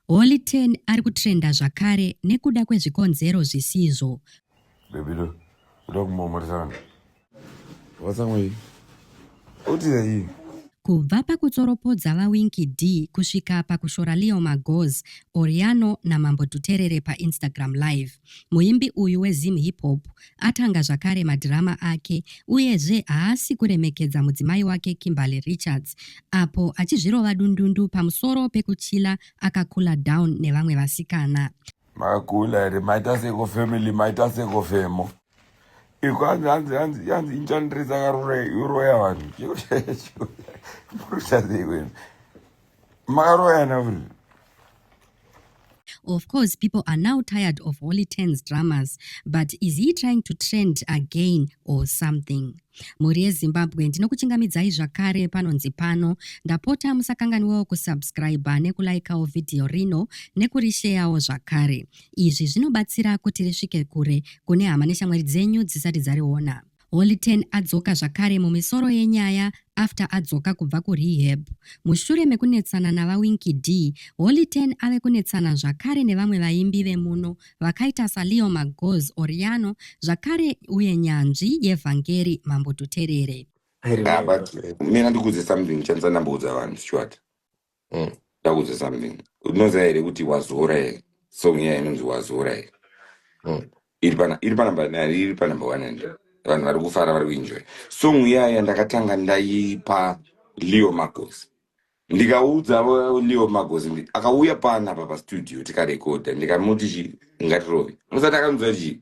Holy Ten ari kutrenda zvakare nekuda kwezvikonzero zvisizvo. Baby lo, uda kumomoresa vanhu. Vatsamwa iyi. Utira iyi. Kubva pakutsoropodza vaWinky D kusvika pakushora Leo Magoz, Oriano naMambo Dhuterere paInstagram Live. Muimbi uyu weZim Hip Hop atanga zvakare madhirama ake uyezve haasi kuremekedza mudzimai wake Kimberly Richards apo achizvirova dundundu pamusoro pekuchila akakula down nevamwe vasikana. Makula here maita seko family maita seko femo iko hanzi hanzi hanzi hanzi inchandirisa karurai uroya vanhu chiro chaicho muruchazei wenu makaroyana vuri Of course, people are now tired of Holy Tens dramas, but is he trying to trend again or something? mhuri yezimbabwe ndinokuchingamidzai zvakare panonzi pano ndapota musakanganiwawo kusubscriba nekulaikawo vhidhiyo rino nekurisheyawo zvakare izvi zvinobatsira kuti risvike kure kune hama neshamwari dzenyu dzisati dzariona Holy Ten adzoka zvakare mumisoro yenyaya after adzoka kubva kurehab. Mushure mekunetsana naVaWinky Dee, Holy Ten ave kunetsana zvakare nevamwe vaimbi vemuno vakaita saLeo Magoz Oriano zvakare uye nyanzvi yeVhangeri Mambo Tuterere. Nah, but mina ndikuudze something chandisa ndamboudza vanhu shuat Mm. ndakuudza something unoziva here kuti wazora here song iya inonzi wazora here Mm. iri pana iri panamba nani iri panamba one and vanhu vari kufara vari kuenjoy song iyaya ndakatanga ndaipa leo magos ndikaudza avo leo magos ndi- akauya pana apa pastudio tikarekodha ndikamuti chi ngatirove musati akanzwa chii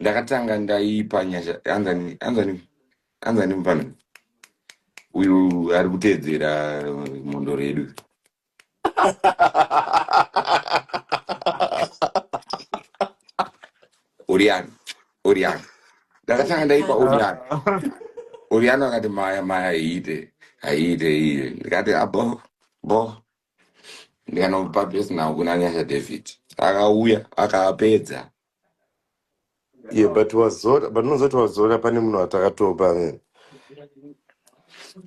ndakatanga ndaipa nyasha anzani anzani anzani mufana uyu ari kuteedzera mhondoro yedu oriana oriana ndakatanga ndaipa oriana oriana akati maya maya haiite haiite iye ndikati abo bo ndikanopa dress now kuna nyasha david akauya akapedza yeah but wazora but unozoti wazora pane munhu watakatopa amene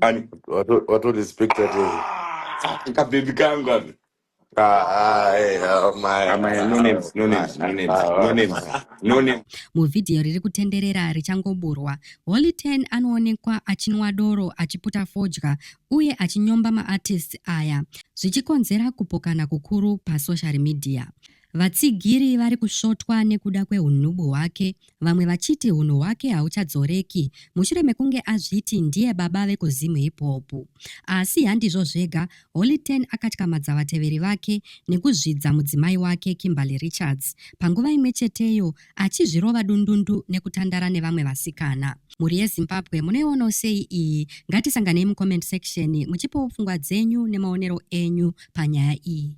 ani wato wato respecta tese ah, kabebi kangu aka ah ah eh oh my amaya no ah oh names no my names no ah names ah no oh names my no name Muvhidhiyo riri kutenderera richangoburwa, Holy Ten anoonekwa achinwa doro achiputa fodya uye achinyomba maartists aya zvichikonzera kupokana kukuru pasocial media. Vatsigiri vari kusvotwa nekuda kwehunhubu hwake, vamwe vachiti hunhu hwake hauchadzoreki mushure mekunge azviti ndiye baba vekuZim Hip Hop. Asi handizvo zvega, Holy Ten akatyamadza vateveri vake nekuzvidza mudzimai wake Kimberly Richards panguva imwe cheteyo achizvirova dundundu nekutandara nevamwe vasikana mhuri yezimbabwe munoionawo sei iyi ngatisanganei mucomment section muchipawo pfungwa dzenyu nemaonero enyu panyaya iyi